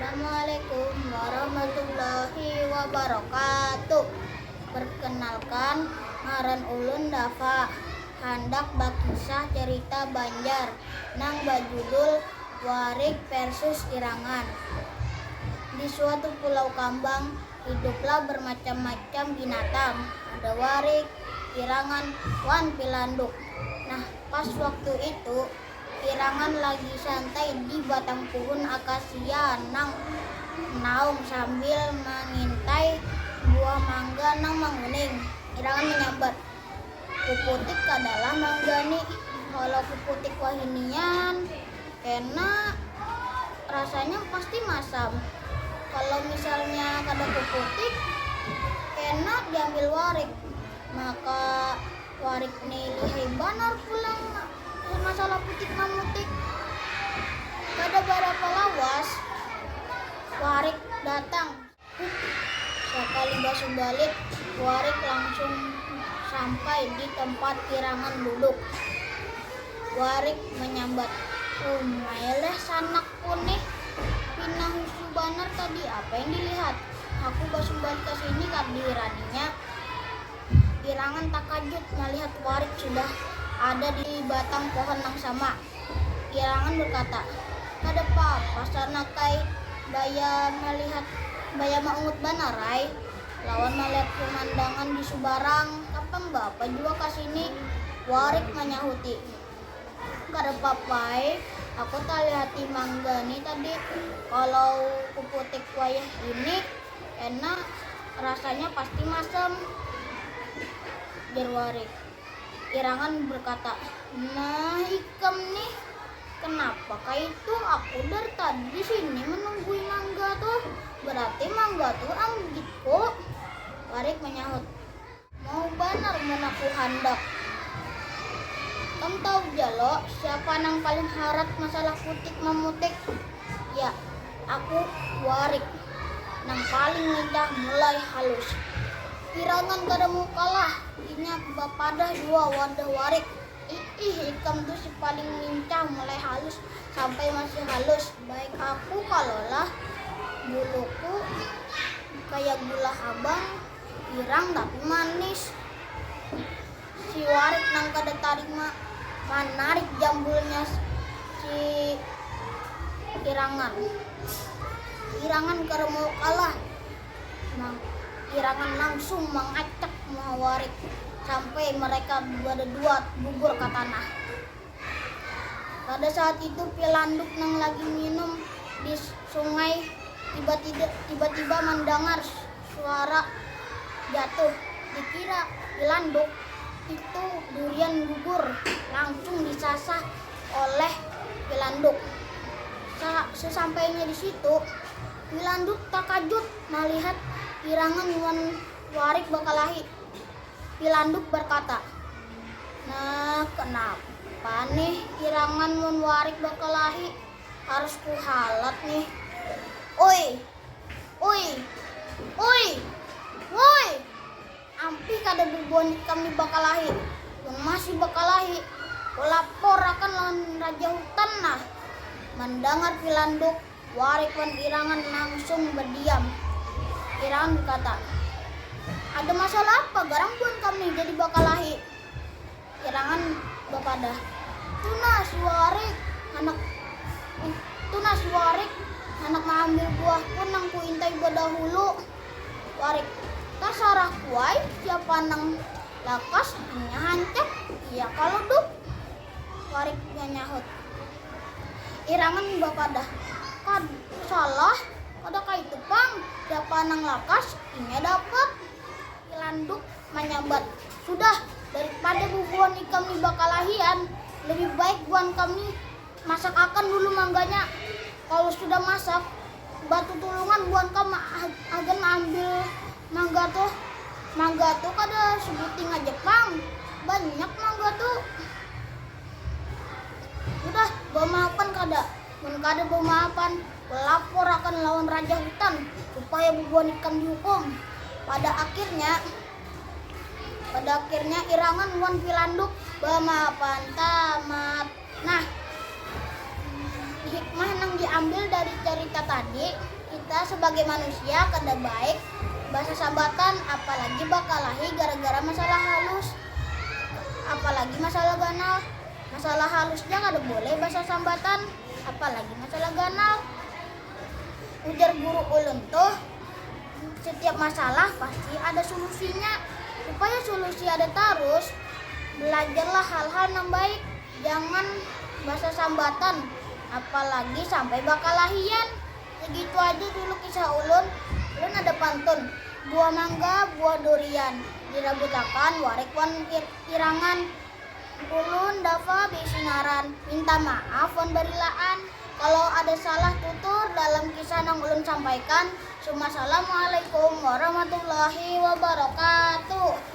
Assalamualaikum warahmatullahi wabarakatuh Perkenalkan, ngaran ulun Dafa Handak bakisah cerita Banjar nang bajudul Warik Versus Irangan Di suatu pulau kambang, hiduplah bermacam-macam binatang Ada warik, irangan, wan pilanduk Nah, pas waktu itu, Pirangan lagi santai di batang puhun akasia nang naum sambil mangintai buah mangga nang manguning. Pirangan manyambat, Kuputik kada lah mangga ni, kalo kuputik wahinian kena rasanya pasti masam. Kalo misalnya kada kuputik kena diambil warik, maka warik ni lihai banar pulang. Mun masalah putik mamutik, kada barapa lawas warik datang. Hup, sakali basumbalit warik langsung sampai di tempat pirangan duduk. Warik manyambat, umai leh sanakku nih, pina husu banar tadi apa yang dilihat, aku basumbalit ka sini kada dihiraninya. Irangan takajut malihat Warik sudah ada di batang pohon nang sama. Irangan berkata, Kada pap, rasana kai baya malihat baya maungut banar ai lawan malihat pemandangan di subarang tapang beapa jua ka sini. Warik manyahuti, Kada pap ai, aku talihati mangga ni tadi, kalau kuputik wayah ini Enak, rasanya pasti masam, jar Warik. Irangan berkata, Nah ikam nih, kenapa kaitu aku dari tadi di sini menunggui mangga tuh, berarti mangga tuh anggitku. Warik menyahut, Mau banar mun aku handak. Kam tahu ja lo siapa nang paling harat masalah putik mamutik? Ya, aku, Warik, nang paling lincah mulai halus. Pirangan kada mau kalah, inya bapadah jua wadah Warik. Iih, ikam tu si paling lincah mulai halus sampai masih halus, baik aku kalo lah, buluku kaya gula habang. Hirang tapi manis. Si Warik nang kada tarima manarik jambulnya si Irangan. Irangan kada mau kalah. Nang Irangan langsung mangacak muha Warik sampai mereka badadua gugur ka tanah. Pada saat itu Pilanduk nang lagi nginum di sungai tiba-tiba mandangar Suara jatuh dikira dilanduk itu durian gugur langsung disasah oleh pilanduk. Sesampainya di situ, pilanduk takajut malihat pirangan wan warik bakalahi. Pilanduk barkata, Nah, kanapa nih pirangan wan warik bakalahi? Harus kuhalat nih. Oi, Uy. Uy. Wuy. Ampih kada bubuhan ikam ni bakalahi. Mun masih bakalahi, kulapor akan lawan raja hutan nah. Mandangar Pilanduk, Warik wan Irangan langsung badiam. Irangan berkata, Ada masalah apa garang buhan kam ni jadi bakalahi? Irangan bapadah, Tunas, Warik, handak Tunas, Warik, handak maambil buah pun nang kuintai badahulu. Warik, Tasarah ku ai, siapa nang lakas hanya hancap, iya kalo Duk? Warik manyahut. Irangan bapadah, Kad, salah, kada kaitu pang, siapa nang lakas, inya dapat. Pilanduk. Manyambat, Sudah, daripada bubuhan ikam ni bakalahian, lebih baik buhan kam ni masakakan dulu mangganya. Kalu sudah masak, batutulungan buhan kam hagan maambil mangga tu. Mangga tu kada sabuting haja pang, banyak mangga tu. Sudah, bamaapan kada? Mun kada bamaapan, Laporakan lawan raja hutan supaya bubuhan ikam dihukum. Pada akhirnya, pada akhirnya Irangan wan Pilanduk bamaafan tamat. Nah, hikmah nang diambil dari carita tadi, kita sabagai manusia kada baik basasabatan apalagi bakalahi gara-gara masalah halus. Apalagi masalah ganal. Masalah halus ja kada boleh basasambatan. Apalagi masalah ganal. Ujar guru ulun tuh, setiap masalah pasti ada solusinya. Supaya solusi ada tarus, belajarlah hal-hal nang baik, jangan basasambatan, apalagi sampai bakalahian. Segitu aja dulu kisah ulun. Ulun ada pantun, buah mangga, buah durian, dirabutakan warik wan pirangan, Ulun dafa beisi ngaran, minta maaf wan barilaan kalo ada salah tutur dalam kisah nang ulun sampaikan. Sumasalamualaikum warahmatullahi wabarakatuh.